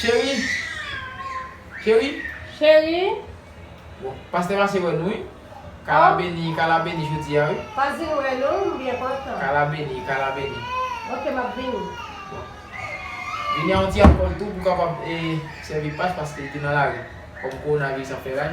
Cheri! Cheri! Cheri! Bon, pastè pase wè nou wi. Ka la beni, ka la beni jodi a wi. Pase m wè nou, m byen kontan. Ka la beni, ka la beni. Ok, m ap vini. Bon. Vini a yon ti alkòl tou pou kapab e sèvi pas paske li te nan lari. Kòm kowonaviris ap fè raj.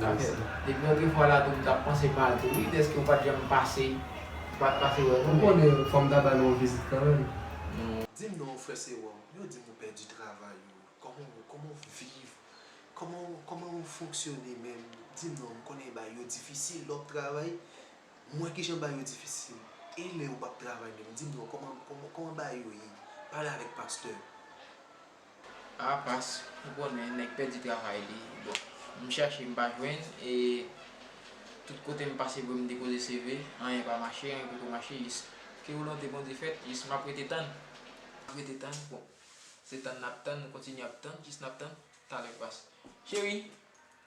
Zafè depi yon trifwa latou m tap panse mal tou wi deske ou pat janm pase ou pat pase wè nou men. Ou konnen fòm ta ba nou yon vizit kanmenm. Dim non frè sewòm yo dim ou pèdi travay ou kòman ou kòman ou viv kòman ou kòman ou fonksyone menm dim non m konnen bagay yo difisil lè wap travay m wè kijan bagay yo difisil e lè ou pap travay menm dim non kòman kòman bagay yo ye pale avèk pastè. Ah pas ou konnen nèg pèdi travay li bon m chache m pa jwenn e tout kote m pase pou m depoze CV anyen pa mache anyen poko mache jis ke volonte Bondye fèt jis map rete tann rete tann bon se tann nap tann nou kontinye ap tann jis nap tann talè pas cheri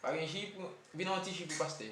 pa gen ji pou vin an ti ji pou pastè.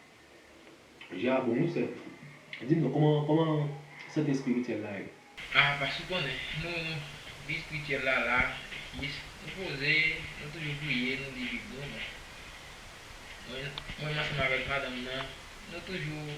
Je a bon wi sè. Di m non kòman kòman sante espirityèl la ye? Ah pas ou konnen nou vi espirityèl la la yes nou poze nou toujou priye nou li bib nou men mwen mwen ansanm avèk madanm nan nou toujou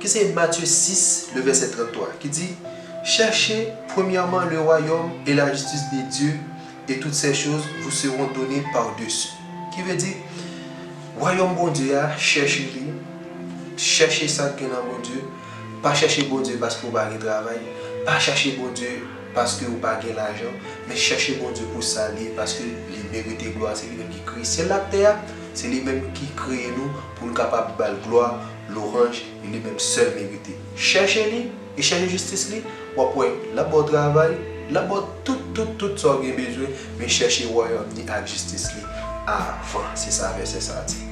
ki se Matye 6, le vèsè 33, ki di, Chèche premyèman le wayòm e la jistis de Dye, e tout sè choz vou seron done pardesu. Ki vle di, wayòm Bondye a, chèche li, chèche sa k gen nan Bondye, pa chèche Bondye paske ou pa gen travay, pa chèche Bondye paske ou pa gen lajan, men chèche Bondye pou sa l ye, paske li merite glwa, se li menm ki kreye syèl l ak tè a, se li menm ki kreye nou pou n kapab ba l glwa, Lorange li li menm sèl merite. Chèche li e chèche jistis li wap wè lap baw travay lap baw tout tout tout sa ou gen bezwen men chèche wayòm ni ak jistis li avan se sa vèsè sa di.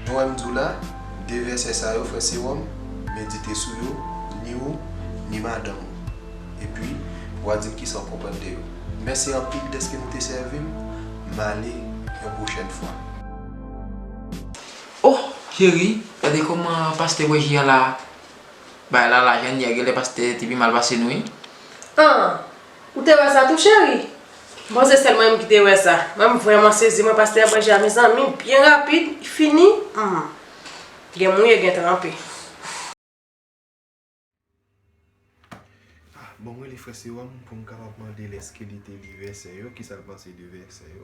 Nou wèm diw la, 2 vèsè sa yo frè sewòm medite sou yo ni ou ni madanm ou epi wa dim kisa ou konprann de yo. Mèsi anpil dèske nou te sèvim, male yon pwochèn fwa. Ohh cheri gade koman pastè wè je a la bay lala janyè genlè pastè te pi mal pase nou wi. Ahh ou te wè sa tou cheri? M panse sèl mwen menm ki te wè sa men m vrèman sezi mwen pastè bwè je a mezanmi byen rapid li fini humm gen mouye gen tranpe. Ah bon m rele frè sewòm pou m kapab mande l eske li te li vèsè yo kisa l panse de vèsè yo.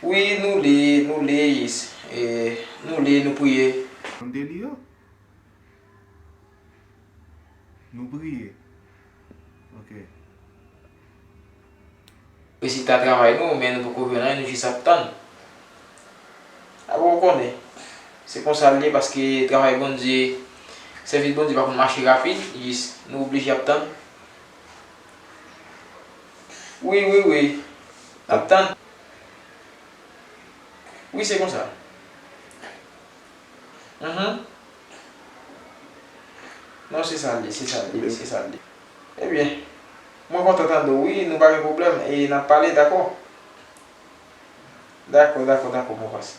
Wi nou li, nou li, nou li, nou priye. Nou de li yo? Nou priye. Ok. Rezilta travay nou men nou poko jwenn anyen nou jis ap tann. A bon ou konnen. Se konsa l ye paske travay Bondye, sèvis Bondye pa konn mache rapid, jis nou oblije ap tann. Wi wi wi nap tann. Wi se konsa. Uhmm. Non se sal ye se sal ye se sal ye. Ebyen Mwen kontan tande w wi nou pa gen pwoblèm e nap pale dakò. Dakò dakò dakò Mwen pase.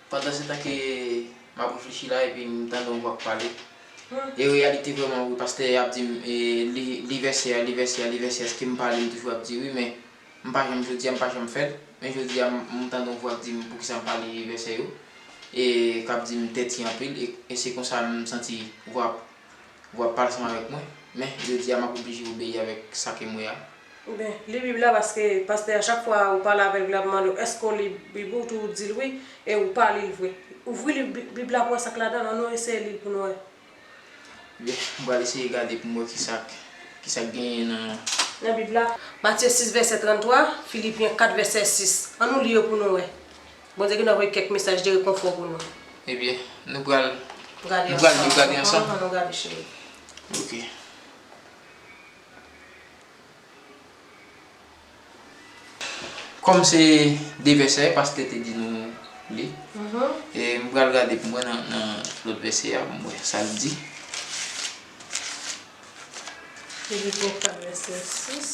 Pandansetan ke m ap reflechi la epi m tande yon vwa k pale, e reyalite vrèman wi pastè ap di m li vèsè a, li vèsè a, li vèsè a, èske m pale m toujou ap di wi men m pa janm jodi a m pa janm fè l, men jodi a m tande yon vwa k di m poukisa m pale vèsè yo e k ap di m tèti anpil e se konsa m santi vwa Ou ap pa ansanm avèk mwen, men, jodi a, m ap oblije obeyi avèk sa ke m wè a. Oubyen, li Bib la paske pastè a chak fwa ou pale avè l li ap mande w èske w li Bib ou, tou ou di l wi e ou pa li l vre. Ouvri liv Bib la pou wè sa k ladan l, annou eseye li l pou nou wè. Byen, m pral eseye gade pou m wè kisa k, kisa k genyen nan. Nan Bib la. Matye 6 vèsè 33, Filipyen 4 vèsè 6. Annou li yo pou nou wè. Bondye gendwa voye kèk mesaj de rekonfò pou nou. Ebyen, nou pral. Gade ansanm. Nou pral gade ansanm. An nou gade cheri. Ok. Kòm se de vèsè pastè te di nou li. E m pral gade pou mwen nan lòt vèsè a pou m wè sa l di. Epi pou m fè vèsè 6.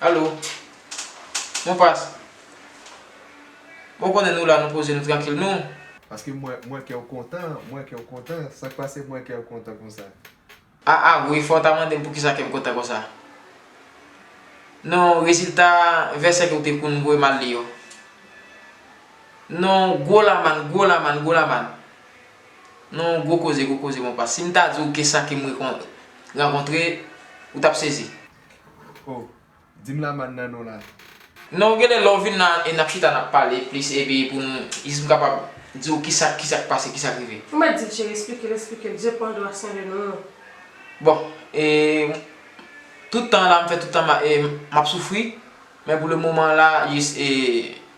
Allo Mon pas Bon konnen nou la nou poze nou trankil nou. Paske mwen mwen kew kontan mwen kew kontan sak pase mwen kew kontan konsa. Ah ah wi fòw ta mandem poukisa kèm kontan konsa non rezilta vèsè ke ou te konn voyem al li yo non gwo lamann gwo lamann gwo lamann Non gwo koze gwo koze konpa. Sim ta diw ke sa kem rankontre ou tap sezi. Oh dim la man nan non la. Non genlè lè ou vin la e nap chita nap pale plis epi pou nou jis m kapab diw kisa kisa k pase kisa k rive. Ou mèt dil cheri esplikel esplikel je pon dwa swen de nou. Bon e tout tan la m fè tout tan map soufri men pou le moman la jis e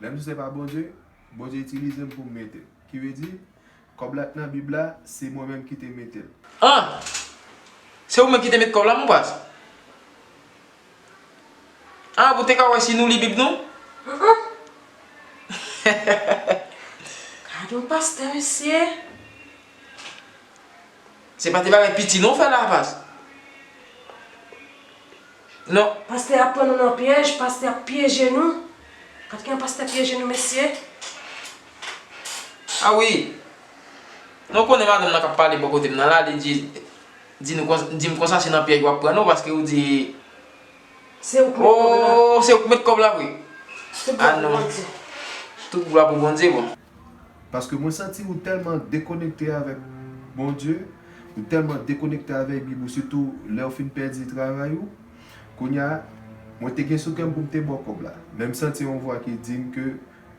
Lè m di se pa Bondye, Bondye itilize m pou m mete l. Ki vle di, kòb la t nan bib la, se mwen menm ki te mete l. An! Se ou menm ki te met kòb la mon paz? An pou te ka wè si nou li bib nou? Gadon pastè mesye! Se pa ti bagay piti non ou fè la paz. Non. Pastè a pran nou nan pyèj pastè ap pyeje nou pat gen yon pastè pyeje nou mesye. Ah wi non ou konnen madanm nan kap pale bò kotem nan la li di di nou konsa dim konsa se nan pyèj wap pran nou paske ou di ooh se ouk met kòb la vre ah non tout glwa pou Bondye bon. Paske mwen santi ou tèlman dekonekte avèk Bondye, ou tèlman dekonekte avèk Bib ou sitou lèw fin pèdi travay ou, kounya mwen te gen sou kèm poum te baw kòb la, menm santi yon vwa ki dim ke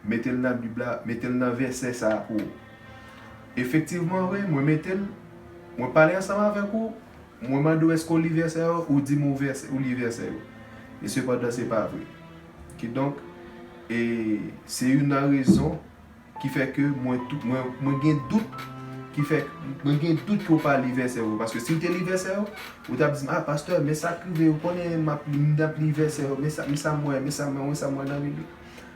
metel nan Bib la, metel nan vèsè sa pou ou. Efektivman wi mwen metel, mwen pale ansanm avèk ou, mwen mandew èske ou li vèsè yo, ou dim ou li vèsè yo. E sepandan se pa vre. Kidonk, e se youn nan rezon ki fè ke mwen tou, mwen gen dout ki fè, mwen gen dout ke w pa li vèsè yo. Paske si w te li vèsè yo, ou t ap di m, a pastè, men sa k rive, ou konnen m ap li, m t ap li vèsè yo, men sa, men sa m wè, men sa m wè, men sa m wè nan Bib la.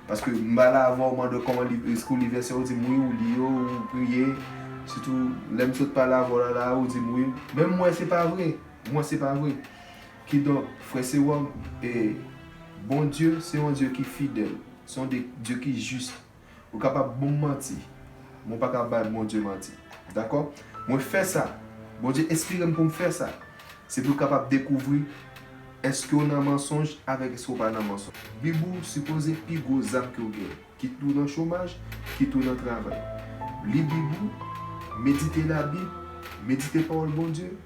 Paske m ba la avè w, mande w kòman li, èske w li vèsè yo, ou di m wi, ou li yo, ou priye. Sitou lè m sot pale avè w la la a, ou di m wi. Men m wè se pa vre, m wè se pa vre. Kidonk, frè sewòm, e, Bondye se yon Dye ki fidèl, se yon Dye, Dye ki jis. Ou kapab bon m manti, men ou pa ka bay Bondye manti. Dakò? Mwen fè sa. Bondye enspire m pou m fè sa. Se pou l kapab dekouvri èske w nan mansonj avèk èske w pa nan mansonj. Bib ou sipoze pi gwo zam ke w gen. Kit ou nan chomaj, kit ou nan travay. Li Bib ou, medite Labib, medite Pawòl Bondye,